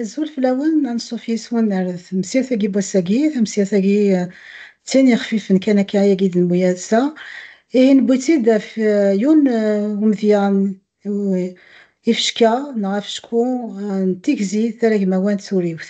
Azul fell-awen, anṣuf yes-wen ar temsirt-agi n wass-agi, tamsirt-agi d tin yexfifen kan akka ayagi d lmuyas-a, ihi newwi-tt-id ɣef yiwen n umedya n yifecka neɣ afecku n tigzi taragmawant turiwt.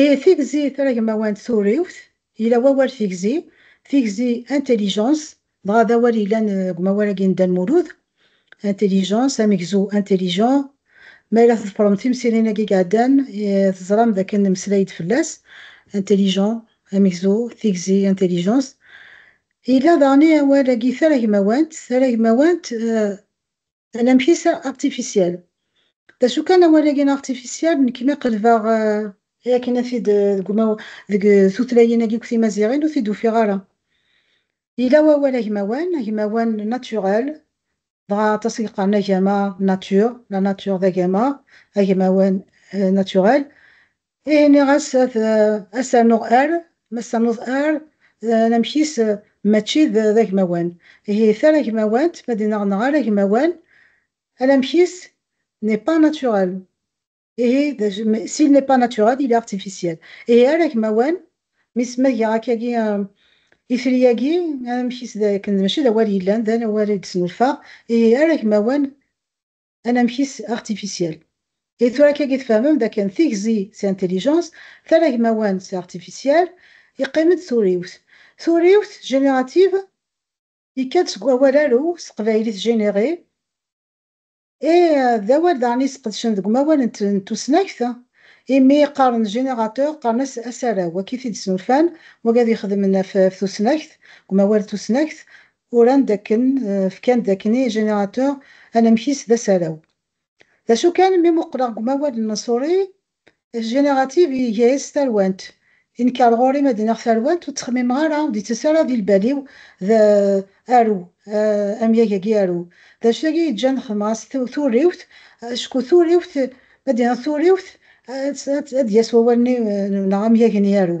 I tigzi taragmawa n turiwt, yella wawal tigzi, tigzi intelligence, dɣa d awal yellan deg umawal-agi n Dda Lmulud, intelligence, amegzu intelligent. Ma ara tḍefrem timsirin-agi iɛeddan, teẓram d akken nemmeslay-d fell-as, intelligent, amegzu, tigzi, intelligence. Yella daɣen i awal-agi taragmawant, taragmawant, Anamek-is d artificiel. D acu kan awal-agi n artificiel, nekk mi qelbeɣ akken ad t-id deg umaw deg tutlayin-agi deg timaziɣin ur t-id ufiɣ ara. Yella wawal agmawan, agmawan naturel, dɣa aṭas i yeqqaren agama nature, la nature d agama, agmawan naturel, Ihi nniɣ-as ad as-rnuɣ ar, ma s-ternuḍ ar, d anamek-is mačči d agmawan. Ihi taragmawant, ma d-inneɣ neɣ aragmawan, anamek-is n'est pas naturel. Ihi d acu, mais s'il n'est pas naturel, il est artificiel. Ihi aragmawan, mis ma giɣ akkagi itri-agi, anamek-is d akken mačči d awal yellan, d awal i d-snulfaɣ, ihi aragmawan anamek-is artificiel. I tura kagi tfehmem dakken tigzi c'est intelligence, talagmawan c'est artificiel, yeqqim-d turiwt. Turiwt, générative, yekka-d seg wawal aru s teqbaylit générer, et d awal daɣen i sqedcen deg umawal n tusnakt, imi qqaren générateur qqaren-as asaraw, akka i t-id-snulfan, wagi ad ixedmen ɣef tusnakt, deg umawal n tusnakt, Uran dakken, fkan-d dakken i générateur anamek-is d asaraw. D acu kan, mi muqleɣ deg umawal n Mansouri, générative iga-as d tarwant. Inker ɣur-i ma d-iniɣ tarwant, ur ttxemmimeɣ ara, ur d-yettas ara di lbal-iw d aru, amyag-agi aru. D acu yagi yeǧǧan xedmeɣ-as turiwt, acku turiwt, ma d-iniɣ turiwt, ad d-yas wawal-nni neɣ amyag-nni aru.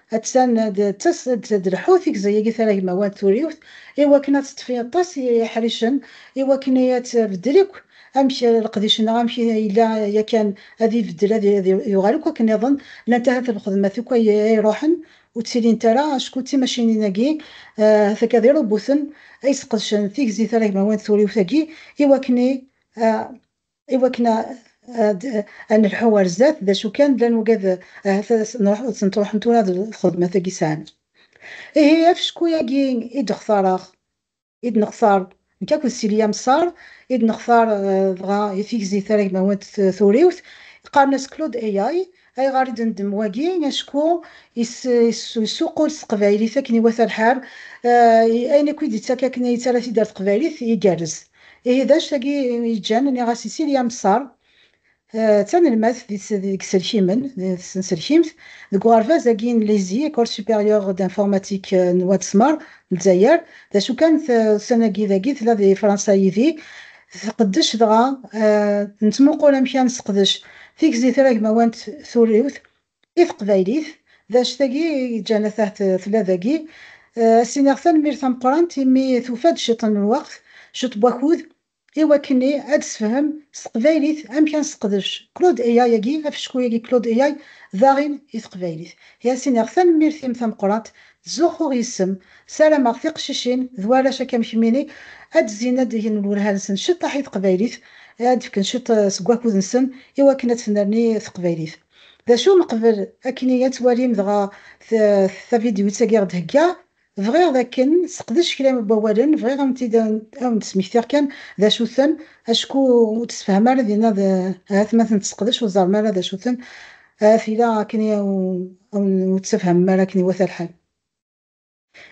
Attan d lḥut i yeẓẓeg taragmawant turiwt i wakken ad teṭṭef aṭas n yiḥricen i wakken ad tbeddel akk amek leqdic-nneɣ amek i yella yakan ad ibeddel ad yuɣal akk akken iḍen, llant ahat lxedmat akk ay iruḥen ur ttilint ara acku d timacinin-agi ahat akka d irubuten ay yesqedcen tigzi taragmawant turiwt-agi i wakken ad. iwakken ad nelḥu ar zdat, d acu kan, llan wugad ahat ad sen-truḥen tura d lxedmat-agi sɛan. Ihi afecku-agi i d-xtareɣ, i d-nextar nekk akked Silya Messar, i d-nextar dɣa i tigzi taragmawant turiwt, qqaren-as Claude AI, Ayɣer i d-neddem wagi? Acku yessuqul s teqbaylit akken iwata lḥal, ayen akk i d-ittak akken yettara tidert teqbaylit igerrez. Ihi d acu tagi yeǧǧan nniɣ-as i Silya Messar, d tanelmadt deg yiselkimen, tsenselkimt, deg uɣerbaz agi n LISI, Ecole Supérieure d'Informatique n Wad Smer n Lezzayer, d acu kan ussan-agi dagi tella di Fransa yid-i, tqeddec dɣa nettmuqul amek ad nesseqdec tigzi tiragmawant turiwt i teqbaylit, d anect-agi i yeǧǧan atah tella dagi. Ad s-iniɣ tanemmirt ameqqrant imi tufa-d ciṭ n lweqt, ciṭ n wakud i wakken i ad d-tessefhem s teqbaylit amek ad nesseqdec Claude AI-agi, afecku-agi Claude AI, daɣin i teqbaylit. I as-iniɣ tanemmirt-im tameqqrant Ttzuxxuɣ yis-m, sarameɣ tiqcicin d warrac akka am kemmini ad d-zzin ad d-gen lwelha-nsen ciṭṭaḥ i teqbaylit, ad d-fken ciṭ seg wakud-nsen i wakken ad tennerni teqbaylit. D acu n qbel akni ad twalim dɣa tavidyuitt-agi i ɣ-d-theggaḍ, bɣiɣ d akken seqdec kra n wawalen, bɣiɣ ad wen-d-smektiɣ kan d acu-ten, acku ur tessefham ara dinna d ahat ma ten-tesseqdec ur teẓrem ara d acu-ten, A tila akken i awen-nettefhem mi ara akken iwata lḥal.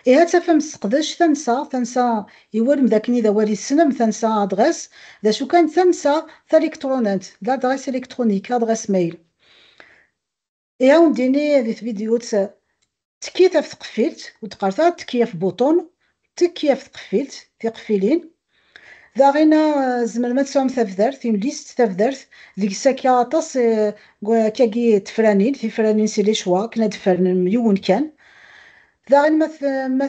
Ihi ad tafem sseqdec tansa, tansa iwulem d akken i d awal yessnem tansa adɣes, d acu kan tansa taliktṛunant, l'adresse électronique, adɣes mail. I awen-d-ini di tvidyut Tekkit ɣef tqeffilt, ur d-qqaret ara tekki ɣef bouton, tekki ɣef tqeffilt, tiqeffilin. Daɣina tzemrem ad tesɛum tabdart, une liste, tabdart, deg-s akka aṭas akkagi tefranin, tifranin c'est les choix, akken ad tfernem yiwen kan. Daɣin ma ma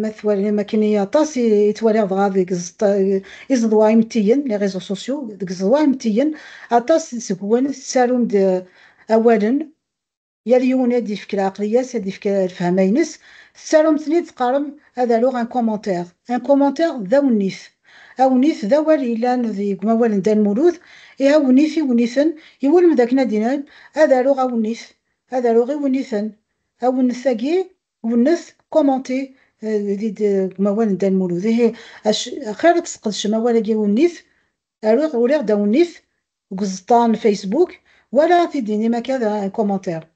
ma twalim akken i aṭas i ttwaliɣ dɣa deg iẓeḍwa imettiyen, les réseaux sociaux, deg iẓeḍwa imettiyen aṭas seg-wen tettarum-d awalen, Yal yiwen ad yefk lɛeqliya-s, ad yefk lefhama-ines. Tettarum-ten-id teqqarem ad aruɣ un commentaire. Un commentaire d awennit. Awennit d awal yellan deg wawal n Dda Lmulud. Ih awennit, iwenniten, iwulem dakken ad d-inin ad aruɣ awennit, ad aruɣ iwenniten. Awennet-agi, wennet, commenter, deg wawal n Dda Lmulud. Ihi axir ad tesqedcem awal-agi awennit Aru-ɣ uriɣ-d awennit deg uẓeṭṭa n Facebook wala t-id-inim akka d un commentaire.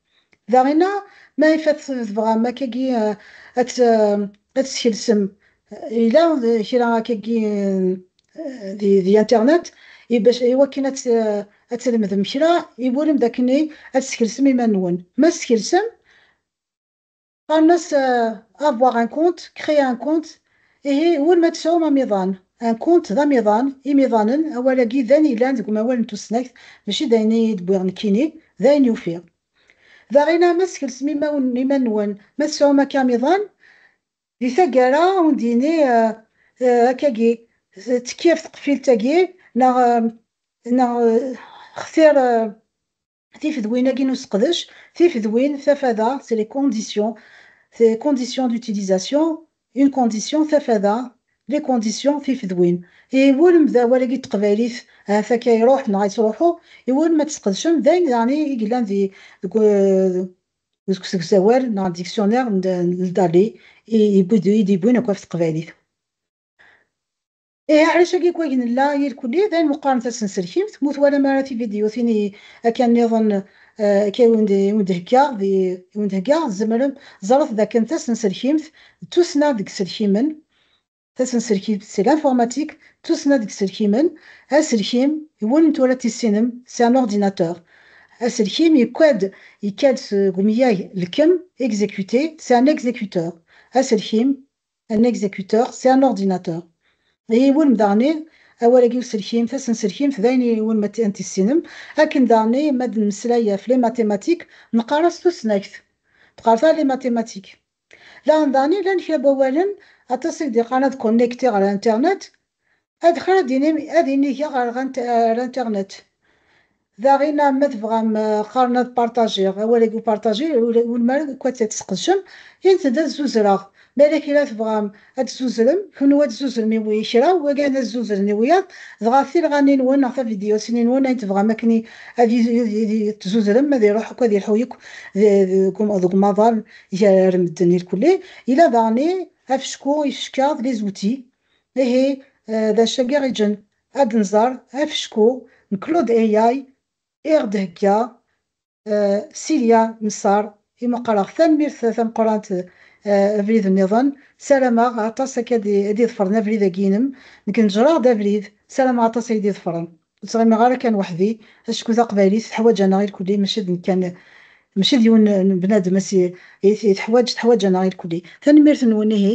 Daɣina ma ifat tebɣam akkagi ad t-skelsem yella kra akkagi di internet iwakken ad tlemdem kra iwulem dakken ad tskelsem iman-nwen. Ma tskelsem. Qqaren-as avoir un compte, créer un compte, ihi war ma tesɛum amiḍan. Un compte d amiḍan, imiḍanen, awal-agi d ayen yellan deg umawal n tusnakt, mačči d ayen i yi-d-wwiɣ nekkini, d ayen ufiɣ. D aɣina ma skelsem iman-nwen, ma tesɛum akka amiḍan, di taggara a wen-d-yini akkagi, tekki ɣef tqeffilt-agi, neɣ xtir. tifedwin-agi n useqdec, tifedwin, tafada, c'est les conditions, c'est conditions d'utilisation, une condition, tafada, les conditions, tifedwin. Iwulem d awal-agi n teqbaylit, ahat akka iruḥ neɣ yettruḥu, iwulem ad tesqedcem d ayen daɣen i yellan deg usegzawal neɣ dictionnaire n Dali i d-yewwin akk ɣef teqbaylit. Ihi ɛlac agi n wayen nella irkelli d ayen meqqaren tasenselkimt, mu twalam ara tividyutin i akka nniḍen akka i wen-d-heggaɣ di i wen-d-heggaɣ tzemrem ẓret dakken tasenselkimt d tussna deg iselkimen tasenselkimt c'est l'informatique d tussna deg iselkimen aselkim i wulem tura tissinem c'est un ordinateur aselkim yekka-d yekka-d seg umyag lkem exécuter c'est un exécuteur aselkim Un exécuteur, c'est un ordinateur. I iwulem daɣen-i awal-agi uselkim, tasenselkimt d ayen i iwulem ad t-tissinem. Akken daɣen-i ma d nemmeslay ɣef les mathématiques, neqqar-as tusnakt. Tqerta les mathématiques. Laɣen daɣen-i llan kra n wawalen, aṭas i k-d-iqqaren ad connecter ɣer internet, Adexxir ad inim ad inigeɣ ɣer ar internet. Daɣin ma tebɣam qqaren ad partager awal agi partager ur mara akk ad t-tesqedcem intent ad zuzreɣ ma yella kra tebɣam ad tzuzrem kenwi ad tzuzrem i wi kra wagan ad zuzren i wiyaḍ dɣa tilɣaninwen neɣ tavidyusinenwen ayen tebɣam akken ad tzuzrem ad iruḥ akk ad ilḥu yakk deg umaḍal gar medden irkelli. Yella daɣen i afecku ifecka d les outils. Ihi d acagi ɣiǧen ad nẓer afecku n Claude AI i ɣ-d-thegga Silya Msar i meqqreɣ tanemmirt tameqqrant Abrid nniḍen sarameɣ aṭas akka ad d-iḍefren abrid agi inem nekk neǧreɣ-d abrid sarameɣ aṭas ay d-iḍefren ur ttɣimiɣ ara kan weḥdi acku taqbaylit teḥwaǧ aneɣ irkelli maci d nekk kan maci d yiwen n bnadem ay teḥwaǧ teḥwaǧ aneɣ irkelli tanemmirt nwen ihi.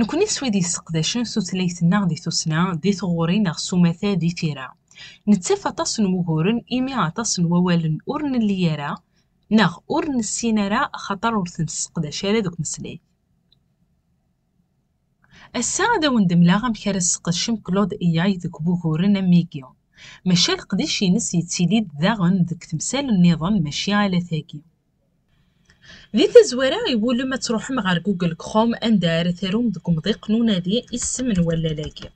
Nekni s wid yesseqdacen tutlayt-nneɣ di tussna, di tɣuri neɣ s umata di tira, nettaf aṭas n wuguren imi aṭas n wawalen ur nelli ara neɣ ur nessin ara axaṭer ur ten-sseqdac ara deg umeslay. Ass-a ad awen-d-mleɣ amek ara tesqedcem Claude AI deg wuguren am wigi, maca leqdic-ines yettili-d daɣen deg temsal nniḍen maci ala tagi. Di tazwara, iwulem ad truḥem ɣer Google Chrome anda ara tarum deg umḍiq n unadi isem n wallal-agi.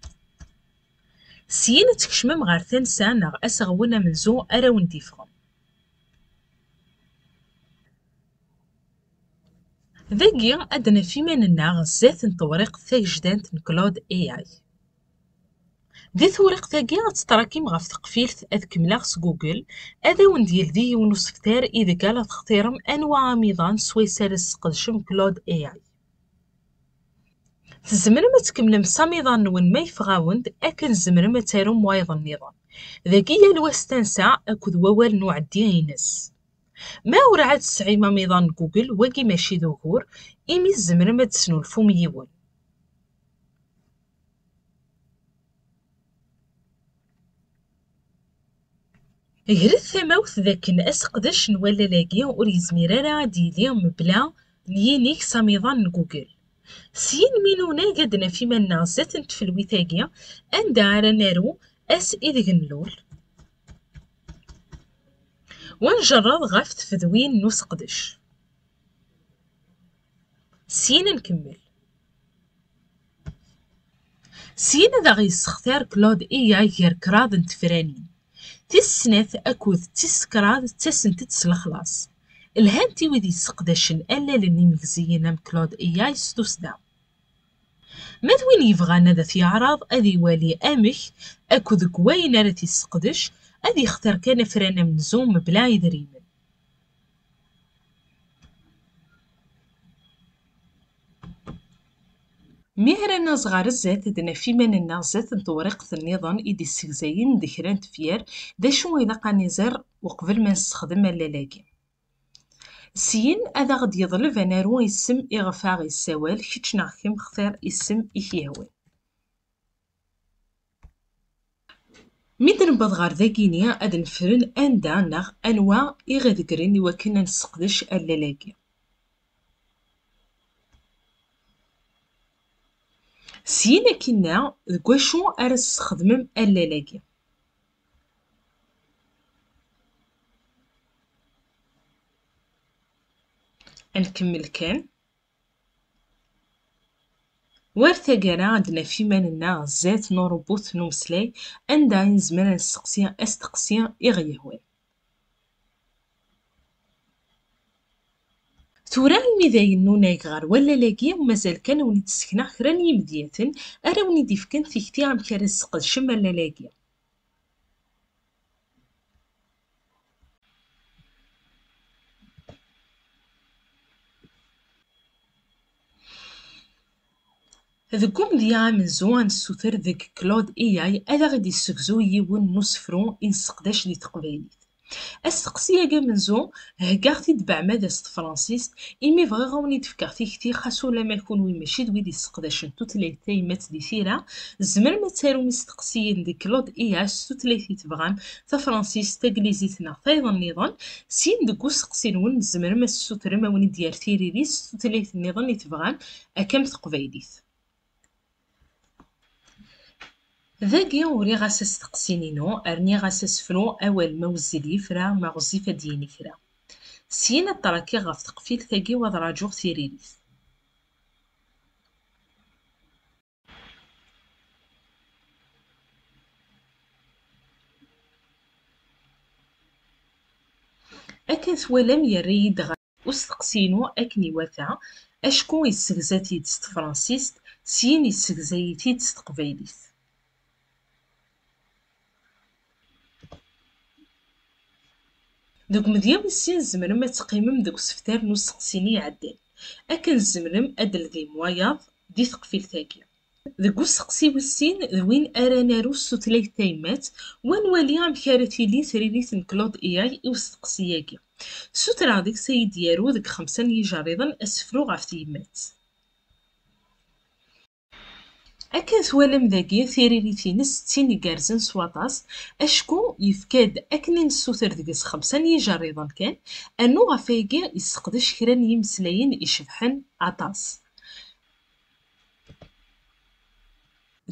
Syin ad tkecmem ɣer tansa neɣ aseɣwen amenzu ara wen-d-yeffɣen. Dagi, ad naf iman-nneɣ sdat n tewriqt tagejdant n Claude AI. Di tewriqt-agi ad tetrakim ɣef teqfilt ad kemmleɣ s Google, ad awen-d-yeldi yiwen usebter ideg ala textirem anwa amiḍan swayes ara tesqedcem Claude AI. Tzemrem ad tkemmlem s amiḍan-nwen ma yeffeɣ-awen-d, akken tzemrem ad tarum wayeḍ nniḍen. Dagi yal wa s tansa akked wawal n uɛeddi-ines. Ma urɛad tesɛim amiḍan n Google, wagi maci d ugur, imi tzemrem ad d-tesnulfum yiwen. Gret tamawt d akken aseqdec n wallal-agi ur yezmir ara ad d-yili mebla n yinig s amiḍan n Google. Syin mi nunag ad d-naf iman-nneɣ zdat n tfelwit-agi, anda ara naru ass ideg nlul, wa njerred ɣef tfedwin n useqdec. Syin ad nkemmel. Syin ad aɣ-yessextir Claude Iyag gar kraḍ n tefranin. Tis snat akked tis kraḍ ttasent-d s lexlaṣ. Lhant i wid yesseqdacen allalen imegziyen am Claude Iyag s tussda. Ma d win yebɣan ad t-yeɛreḍ ad iwali amek akked deg wayen ara t-yesseqdec, ad yextir kan afran amenzu mebla idrimen. Mi ara naẓ ɣer sdat, ad naf iman-nneɣ sdat n tewriqt nniḍen i d-issegzayen d kra n tefyar, d acu ilaq ad niẓer uqbel ma nessexdem allal-agi. Syin, ad aɣ-d-yeḍleb ad naru isem iɣef aɣ-yessawal, kečč neɣ kemm, xtir isem i k-yehwan. Mi d-newweḍ ɣer dagi-ni, ad nefren anda neɣ anwa i ɣ-ideggren i wakken ad nesseqdec allal-agi. Syin ad k-inna deg wacu ara tesxedmem allal-agi. Ad nkemmel kan. War taggara ad d-naf iman-nneɣ zdat n uṛubut n umeslay anda i nezmer ad nesteqsi asteqsi i ɣ-yehwan. Tura imi dayen nunag ɣer wallal-agi, mazal kan ad wen-id-ssekneɣ kra n yimedyaten ara wen-id-ifken tikti amek ara tesqedcem allal-agi. Deg umedya amenzu ad nessuter deg Claude Eyal ad aɣ-d-yessegzu yiwen n usefru i nesseqdac di teqbaylit. Asteqsi-agi amenzu, heggaɣ-t-id beɛmada s tefransist, imi bɣiɣ ad wen-id-fkeɣ tikti xas ulamma kunwi mačči d wid yesseqdacen tutlayt tayemmat di tira, tzemrem ad tarum isteqsiyen deg Claude Eyal s tutlayt i tebɣam, tafransist, taglizit neɣ tayeḍ nniḍen, syin deg useqsi-nwen tzemrem ad tessutrem a wen-id-yerr tiririt s tutlayt nniḍen i tebɣam akka am teqbaylit. Dagi uriɣ-as asteqsin-inu, rniɣ-as asefru awal ma wezzil yefra, ma ɣezzif ad d-yini kra. Syin ad ṭrakiɣ ɣef teqfilt-agi u ad ṛajuɣ tiririt. akken twalam yerra-yi-d ɣer usteqsi-inu akken iwata acku yessegza-t-id s tefransist syin yessegza-yi-t-id s teqbaylit. Deg umedya wis sin tzemrem ad teqqimem deg usebter n usteqsi-nni iɛeddan. Akken tzemrem ad d-teldim wayeḍ di teqfilt-agi. Deg usteqsi wis sin d win ara naru s tutlayt tayemmat, wa nwali amek ara tili tririt n Claude AI i usteqsi-agi. Ssutreɣ deg-s ad iyi-d-yaru deg xemsa n yijerriḍen asefru ɣef tyemmat. Akken twalam dagi, tiririt-ines d tin igerrzen s waṭas, acku yefka-d akken i nessuter deg-s xemsa n yijerriḍen kan, rnu ɣef wayagi yesseqdec kra n yimeslayen icebḥen aṭas.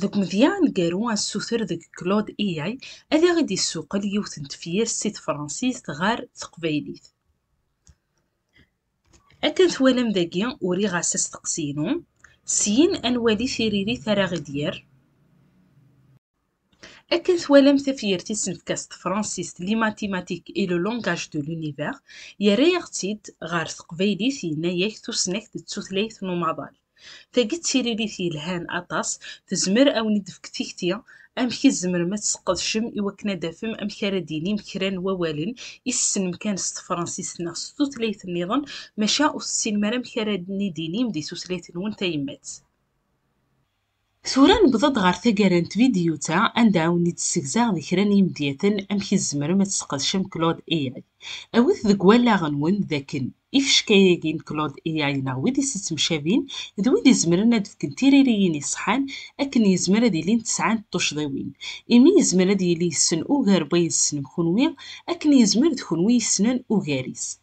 Deg umedya aneggaru assuter deg Claude AI ad aɣ-id-yessuqel yiwet n tefyirt si tefransist ɣer teqbaylit. Akken twalam dagi uriɣ-as asteqsi-inu, syin ad nwali tiririt ara ɣ-id-yerr. Akken twalam tafyirt i s-nefka s tefransist Les mathématiques et le langage de l'univers, yerra-yaɣ-tt-id ɣer teqbaylit yenna-ak tusnakt d tutlayt n umaḍal. Tagi d tiririt yelhan aṭas, tezmer awen id tefk tikti amek i tzemrem ad tesqedcem i wakken ad tafem amek ara d-tinim kra n wawalen i tessnem kan s tefransist neɣ s tutlayt nniḍen maca ur tessinem ara amek ara id-tinim di tutlayt nwen tayemmat. Tura newweḍ-d ɣer taggara n tvidyut-a anda awen-id-ssegzaɣ di kra n yimedyaten amek i tzemrem ad tesqedcem Claude AI. Awit deg wallaɣ-nwen d akken ifecka-agi n Claude AI neɣ wid i s-ittemcabin d wid izemren ad fken tiririyin iṣeḥḥan akken yezmer ad ilint sɛant tuccḍiwin imi yezmer ad yili yessen ugar n wayen tessnem kenwi akken yezmer d kenwi yessnen ugar-is.